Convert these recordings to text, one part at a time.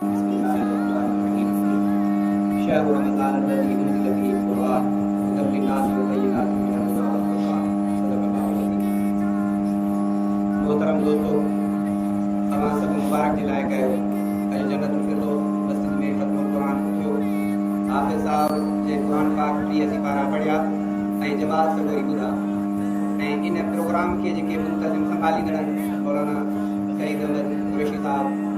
بسم الله الرحمن الرحيم شهر رمضان الذي انزل فيه القرآن هدى للناس وبينات من الهدى والفرقان صدق الله العظيم محترم دوستو اوهان سڀ مبارڪ جي لائق آهيو اڄ جنت الفردوس مسجد ۾ ختم القرآن به ٿيو حافظ صاحب جنهن قرآن پاڪ ٽيهه سپارا پڙهيا ۽ جواب سڳوري ٻڌا ۽ ان پروگرام کي جيڪي منتظم سنڀاليندڙ آهن مولانا سعيد احمد قريشي صاحب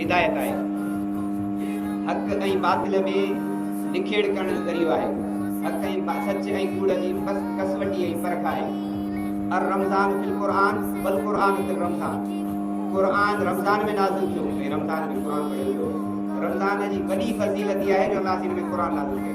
هدايت آهي. حق ۽ باطل ۾ نکيڙ ڪرڻ جو ذريعو آهي. حق ۽ سچ ۽ ڪوڙ جي ڪسوٽي ۽ پرک آهي. الرمضان في القرآن والقرآن في الرمضان قرآن رمضان ۾ نازل ٿيو ۽ رمضان ۾ قرآن پڙهيو ويو. رمضان جي وڏي فضيلت اها آهي جو الله سين ۾ قرآن نازل ڪيو.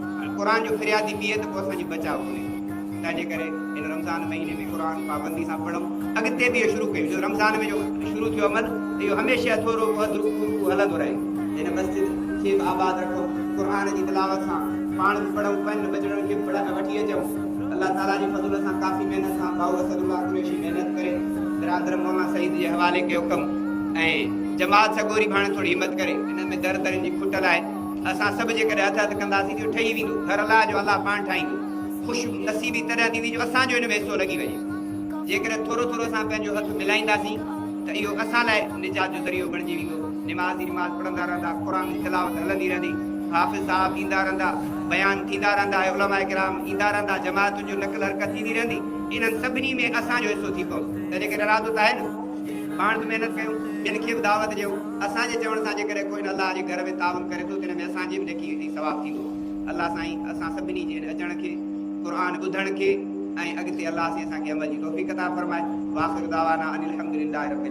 پر قرآن جو فريادي ٻيئي ته پوء اسان جي بچاء ڪونهي. تنهنجي ڪري هن رمضان مهيني ۾ قرآن پابندي سان پڙهون. اڳتي به اهو شروع ڪيون جو رمضان ۾ جو شروع ٿيو عمل ته اهو هميشه ٿورو وڌ رڪوع رڪوع هلندو رهي. هن مسجد کي به آباد رکون. قرآن جي تلاوت سان پاڻ به پڙهون پنهنجن ٻچڙن کي به پڙهائي وٺي اچون. الله تعاليٰ جي فضل سان ڪافي محنت سان ڀائو اسد الله قريشي محنت ڪري برادر مولانا سعيد جي حوالي ڪيو ڪم ۽ جماعت سڳوري به هاڻي ٿوري همت ڪري انهن ۾ در درين جي کٽ لاهي. اسان سڀ جيڪڏهن هٿ هٿ ڪنداسين ته اهو ٺهي ويندو، گهر الله جو الله پاڻ ٺاهيندو. خوش نصيبي تڏهن ٿيندي جو اسان جو ان ۾ حصو لڳي وڃي. جيڪڏهن ٿورو ٿورو اسان پنهنجو هٿ ملائينداسين ته اهو اسان لاء نجات جو ذريعو بڻجي ويندو. نمازي نماز پڙهندا رهندا، قرآن جي تلاوت هلندي رهندي، حافظ صاحب ايندا رهندا، بيان ٿيندا رهندا ۽ علماء ڪرام ايندا رهندا، جماعتن جو نقل حرڪت ٿيندي رهندي، انهن سڀني ۾ اسان جو حصو ٿي پوندو. ته جيڪڏهن ارادو ته آهي نه. پاڻ به محنت ڪيون، ٻين کي به دعوت ڏيون. اسان جي چوڻ سان جيڪڏهن ڪو هن الله جي گهر ۾ تعاون ڪري ٿو ته ان ۾ اسان جي به نيڪي ۽ ثواب ٿيندو. الله سائين اسان سڀني جي هن اچڻ کي، قرآن ٻڌڻ کي ۽ اڳتي الله سائين اسان کي عمل جي توفيق عطا فرمائي. واخر دعوانا ان الحمدلله رب العالمين.